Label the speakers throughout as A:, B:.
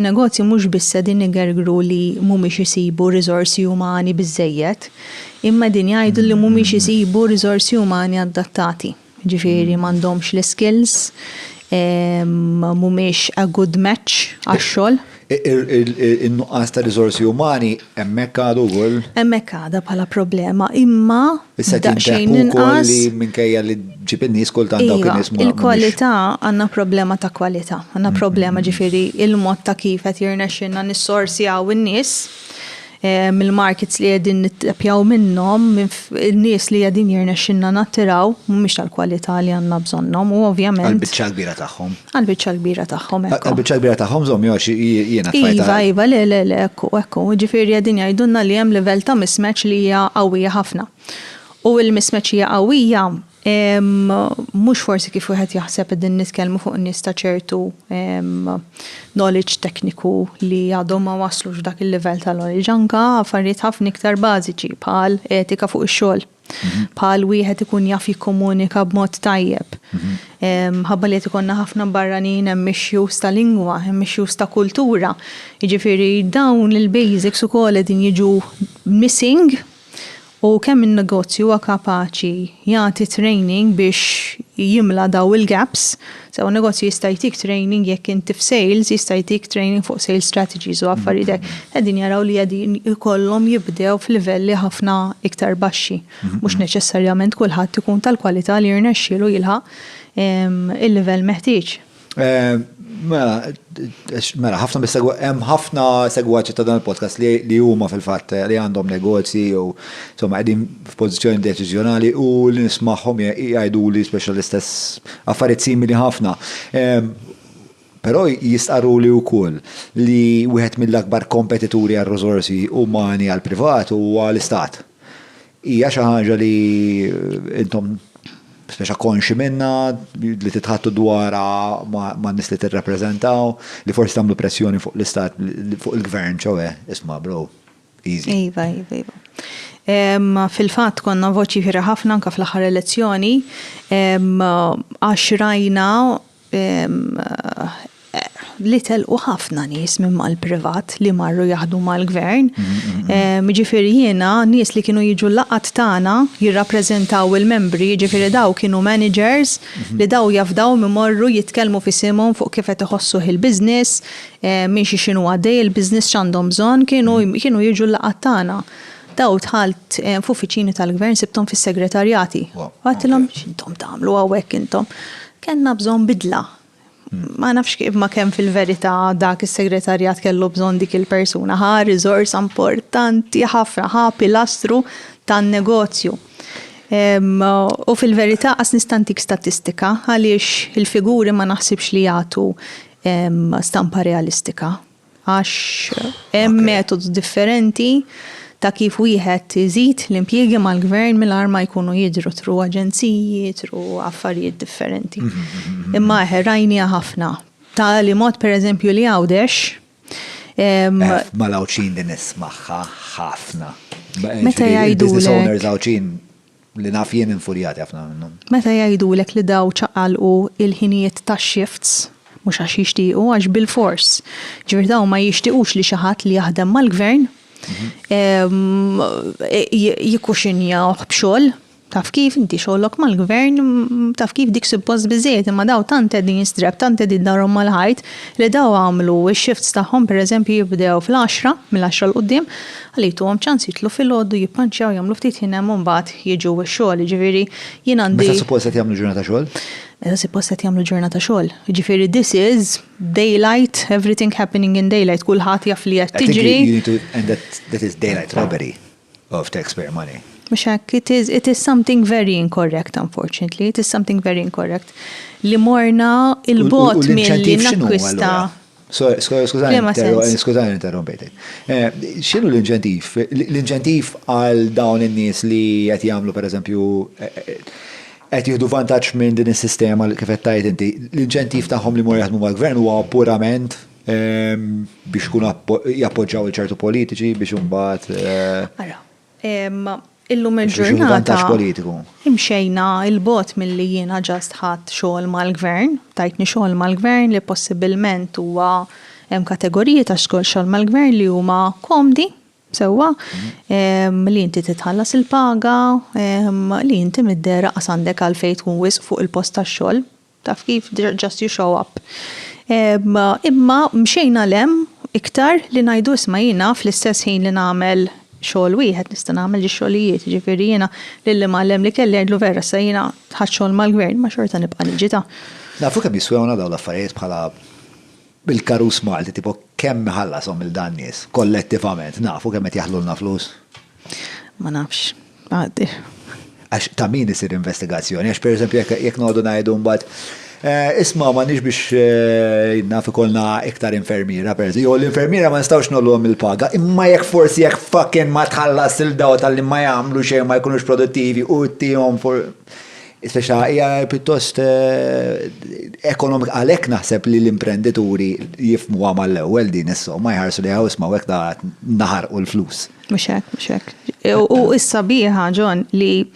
A: Negozji mhux biss qegħdin igergru li mhumiex isibu riżorsi umani biżżejjed, imma qegħdin jgħidu li mhumiex isibu riżorsi umani adattati. Jiġifieri m'għandhomx l-iskills, mhumiex a good match għax-xogħol. In-nuqqas
B: ta' riżorsi umani Hemmhekk għadu wkoll. Hemmhekk għadha bħala
A: problema, imma daqsxejn
B: inqas. Li minkejja li ġib in-nies kultant dawk in-nies ma. Il-kwalità
A: għandna problema ta' kwalità. Għandna problema ġifieri il-mod ta' kif qed jirnexxinna nissorsjaw in-nies mill-markets li qegħdin nittapjaw minnhom minn In-nies li qegħdin jirnexxilna nattiraw mhumiex tal-kwalità li għandna bżonnhom u ovvjament. Għall-biċċa l-kbira tagħhom.
B: Għall-biċċa l-kbira
A: tagħhom. Għall-biċċa l-kbira tagħhom żomm jew
B: għax jiena tfajta. Iva, iva, le, le,
A: le, ekku, ekku. Jiġifieri qegħdin jgħidulna li hemm livell ta' mismatch li hija qawwija ħafna. U l-mismatch hija qawwija Mhux forsi kif wieħed jaħseb qegħdin nitkellmu fuq nies ta' ċertu knowledge tekniku li għadhom ma waslux dak il-livell ta' knowledge anka affarijiet ħafna iktar bażiċi bħal etika fuq ix-xogħol, mhm. bħal wieħed ikun jaf jikkomunika b'mod tajjeb. Mhm. Ħabba li qed ikollna ħafna barranin hemm issues ta' lingwa, hemm issues ta' kultura. Jiġifieri dawn il-basics ukoll qegħdin jiġu missing U kemm in-negozju huwa kapaċi jagħti training biex jimla dawn il-gaps, sew in-negozju jista' jtik training jekk inti f'sales jista' jtik training fuq sales strategies u affarijiet hekk. Qegħdin jaraw li qegħdin ikollhom jibdew f'livelli ħafna iktar baxxi. Mhux neċessarjament kulħadd ikun tal-kwalità li jirnexxielu jilħaq il-livell meħtieġ. Eh, mela,
B: mela, ħafna bis-segwa, hemm ħafna segwaċi ta' dan il-podcast li huma fil-fatt eh, li għandhom negozji u insomma qegħdin f'pożizzjoni deċiżjonali u li nismagħhom jgħidu li speċjal l-istess affarijiet simili ħafna. Eh, però jistqarru li wkoll li wieħed mill-akbar kompetituri għal riżorsi umani għal privat huwa l-istat. Hija xi ħaġa li intom speċa konxi minnha, li titħattu dwarha man-nies li tirrappreżentaw, li forsi tagħmlu pressjoni fuq l-istat, fuq il-gvern, ċoe, isma' bro, easy. Iva, iva, iva.
A: Fil-fatt konna voċi ħafna anke fl-aħħar elezzjoni għax rajna li telqu ħafna nies minn mal-privat li marru jaħdu mal-gvern. Ġifieri jiena nies li kienu jiġu laqat tagħna jirrappreżentaw il-membri, ġifieri daw kienu managers li daw jafdaw imorru jitkellmu f'isimhom fuq kif qed iħossuh il-business, minn xi x'inhu għaddej il-business x'għandhom bżonn, kienu jiġu l-laqat tagħna. Daw dħalt f'uffiċini tal-gvern sibthom fis-segretarjati. Għedtilhom x'intom tagħmlu hawnhekk intom? Kellna bżonn bidla. Ma nafx kif ma kemm fil-verità dak is-segretarjat kellu bżonn dik il-persuna. Ħa riżorsa importanti ħafna, ħa pilastru tan-negozju. U fil-verità qas nista' ntik statistika għaliex il-figuri ma naħsibx li jagħtu stampa realistika. Għax hemm metodi differenti ta' kif wieħed iżid l-impjiegi mal-gvern mingħajr ma jkunu jidhru tru aġenziji, tru affarijiet differenti. Mhm, mhm, mhm. Imma eħe rajnija ħafna. Ta' li mod pereżempju li għawdex.
B: Eh, ma l-għawċin din ismaħħa ħafna. Meta
A: jgħidu. Business owners għawċin
B: li naf jien infurjati ħafna minnhom. Meta jgħidulek li
A: daw ċaqalqu il-ħinijiet tax-shifts, mhux għax jixtiequ, għax bilfors. Ġifieri dawn ma jixtiequx li xi ħadd li jaħdem mal-Gvern jikkuxinjawh b'xogħol, taf kif, inti xogħlok mal-Gvern, taf kif dik suppost biżżejjed, imma daw tant qegħdin strab, tant qegħdin darhom mal-ħajt li daw għamlu x-shifts tagħhom pereżempju jibdew fl-għaxra, mill-għaxra 'l quddiem, Għalhekk tuhom ċans jidħlu filgħodu, jippanċjaw, jagħmlu ftit ħin hemm u mbagħad jiġu x-xogħol, jiġifieri jien għandi. Meta suppost qed jagħmlu ġurnata xogħol?
B: Meta suppost qed
A: jagħmlu ġurnata xogħol. Jiġifieri this is daylight, everything happening in daylight, kulħadd jaf li qed tiġri. And that is
B: daylight robbery of taxpayer money. Mhux hekk, it is,
A: it is something very incorrect unfortunately, it is something very incorrect. Li morna il-bot milli nakwista.
B: Skużani, interrompejtek. Eh, xinu l-inċentiv? L-inċentiv għal dawn in-nies li qed jagħmlu pereżempju eh, eh, qed jieħdu vantaġġ minn din is-sistema li kif qed tajt inti. L-inċentiv tagħhom li mor jaħdmu mal-gvern huwa purament ehm, biex kun jappoġġaw il-ċertu politiċi biex imbagħad. Eh, Illum il-ġurnata
A: imxejna 'il bogħod milli jiena ġast ħadt xogħol mal-Gvern, tajtni xogħol mal-Gvern li possibbilment huwa hemm kategoriji ta' xogħol mal-Gvern li huma komdi sewwa, li inti titħallas il-paga, li inti mid-dehra qas għandek għalfejn tkun wisq fuq il-post tax-xogħol. Taf kif, just you show up. Imma mxejna 'l hemm iktar li ngħidu isma' jiena fl-istess ħin li nagħmel xogħol wieħed nista' nagħmel ġiex xogħlijiet, jiġifieri jiena lil imgħallem li kelli ngħidlu vera issa jiena ħadt xogħol mal-Gvern imma xorta nibqa' niġi ta'. Nafu kemm jiswewna
B: dawn l-affarijiet bħala bil-karus Malti tipo kemm iħallashom 'il dan nies kollettivament nafu kemm qed jaħlulna flus? Ma
A: nafx. Għax ta'
B: min isir investigazzjoni? Għax per eżempju jekk noqogħdu ngħidu mbagħad Eh, isma ma nix biex eh, naf ikolna iktar infermiera per Jo, l-infermiera ma nistawx nollhom il-paga, imma jekk forsi jekk fucking ma tħallas il-daw tal-li ma jagħmlu xejn ma jkunux produttivi u tihom for. Speċa hija pjuttost eh, ekonomik għalhekk naħseb li l-imprendituri jifmu għamal l-ewwel din is-somma jħarsu li hawn isma' hekk naħarqu l-flus. Mux hekk, mux hekk.
A: U issa biħa, John, li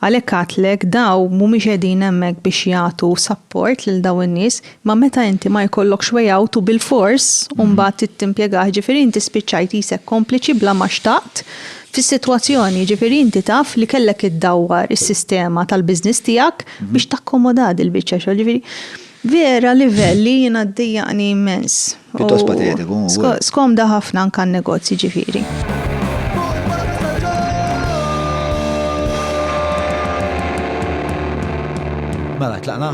A: għalhekk għatlek daw mhumiex qegħdin hemmhekk biex jagħtu support lil daw in-nies, ma meta inti ma jkollokx way out u bilfors mhm. mbagħad tittimpjegah, ġifieri inti spiċċajt isek kompliċi bla ma xtaqt fis-sitwazzjoni, ġifieri inti taf li kellek iddawwar is-sistema tal-business tiegħek mhm. biex takkomoda il-biċċa xogħol, ġifieri Vera livell li jiena ddejjaqni immens. Pjuttost
B: patetiku, hu. Skomda ħafna
A: anke għan-negozji ġifieri.
B: Mela, tlaqna?